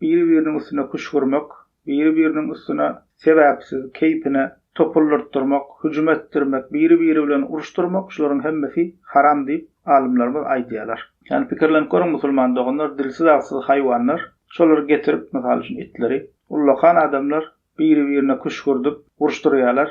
biri-biriniň üstüne küşgürmek, biri-biriniň üstüne sebäpsiz, keýpine topuldyrtdyrmak, hüjüm etdirmek, biri-biri bilen uruşdyrmak şularyň hemmesi haram diýip, alymlarymyz aýdýarlar. Ýagny pikirlenip görüň musulman doganlar, dilsiz-agsyz haýwanlar, şolary getirip, mysal üçin itleri, ullakan adamlar biri-birine küşgürdip, uruşdyrýarlar,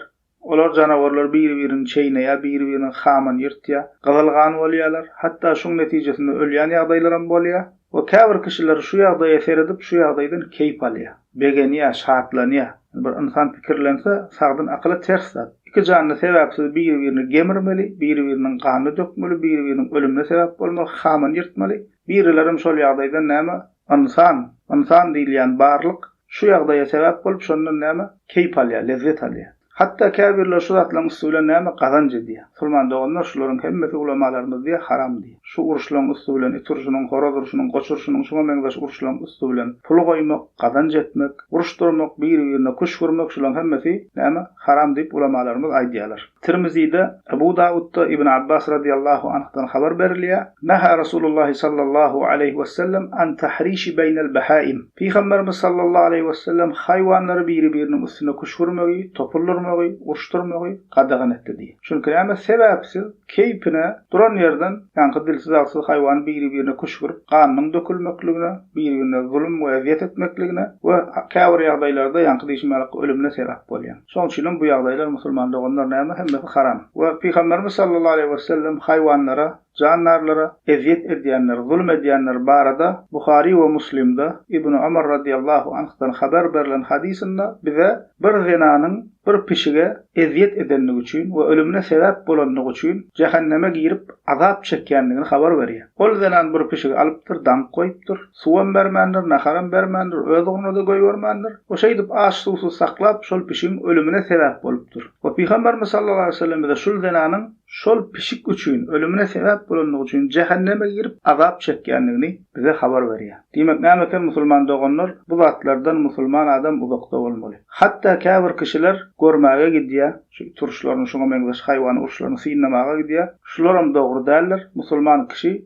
Olar janawarlar biri-birini çeýneýär, biri-birini haman ýyrtýar, gyzyl gan bolýarlar, hatda şuň netijesinde ölýän ýagdaýlaram bolýar we käbir kişiler şu ýagdaýa seredip, şu ýagdaýdan keýp alýar, begenýär, şatlanýar. Bir ynsan pikirlense, sagdyn akyla ters zat. Iki janly sebäpsiz biri-birini gemirmeli, biri-biriniň ganyny dökmeli, biri-biriniň ölümine sebäp bolmaly, haman ýyrtmaly. Birilerem şol ýagdaýdan näme, ynsan, ynsan diýilýän barlyk Şu ýagdaýa sebäp bolup, şondan näme, keýp alýar, lezzet alýar. Hatda käbirleri şu zatlaryň üsti bilen näme, gazanç edýär. Musulman doganlar, şularyň hemmesi ulamalarymyz diýýär, haram diýýär. Şu uruşlaryň üsti bilen, it urşunyň, horaz urşunyň, goç urşunyň, şuňa meňzeş uruşlaryň üsti bilen pul goýmak, gazanç etmek, uruşdyrmak, biri-birine küşk urmak, şularyň hemmesi, näme, haram diýip, ulamalarymyz aýdýarlar. Tirmizide, Ebu Dawudda Ibn Abbas radyýallahu anhdan habar berilýär, Nahä Rasulullah sallallahu aleýhi wessellem an tahrishi beýnel behaim, Pygamberimiz sallallahu aleýhi wessellem haýwanlary biri-biriniň üstüne küşgürmegi, topul urmagy, uruşdyrmagy gadagan etdi diýip. Çünki näme sebäpsiz, keýpine, duran ýerden ýaňky dilsiz-agsyz haýwany biri-birine küşgürip, ganynyň dökülmekligine, bir-birine zulum we ezýet etmekligine we käbir ýagdaýlarda ýaňky diýşim ýaly ölümine sebäp bolýar. Şonuň üçinem bu ýagdaýlar musulman doganlaryna ýa-da hemmesi haram. We Pygamberimiz sallallahu aleýhi wesellem haýwanlara, jandarlara ezýet edýänler, zulum edýänler barada Buhary we Muslimde Ibnu Omar radiyallahu anhdan haber berlen hadysynda bize bir zenanyň bir pişige ezýet edendigi üçin we ölümine sebäp bolandygy üçin jähenneme girip azap çekýändigini habar berýär. Ol zenan bir pişigi alypdyr, daňyp goýupdyr. Suwam bermändir, naharam bermändir, öz ugruna-da goýbermändir. O şeýdip aç-suwsuz saklap, şol pişigiň ölümine sebäp bolupdyr. We Pygamberimiz sallallahu aleýhi we sellem bize şul zenanyň şol pişik üçin ölümine sebäp bolandygy üçin jähenneme girip azap çekýändigini bize habar berýär. Diýmek näme eken musulman doganlar, bu zatlardan musulman adam uzakda bolmaly. Hatda käbir kişiler görmäge gidýär, şu it uruşlaryny, şuňa meňzeş haýwan uruşlaryny synlamaga gidýär. Şularam dogry däldir. Musulman kişi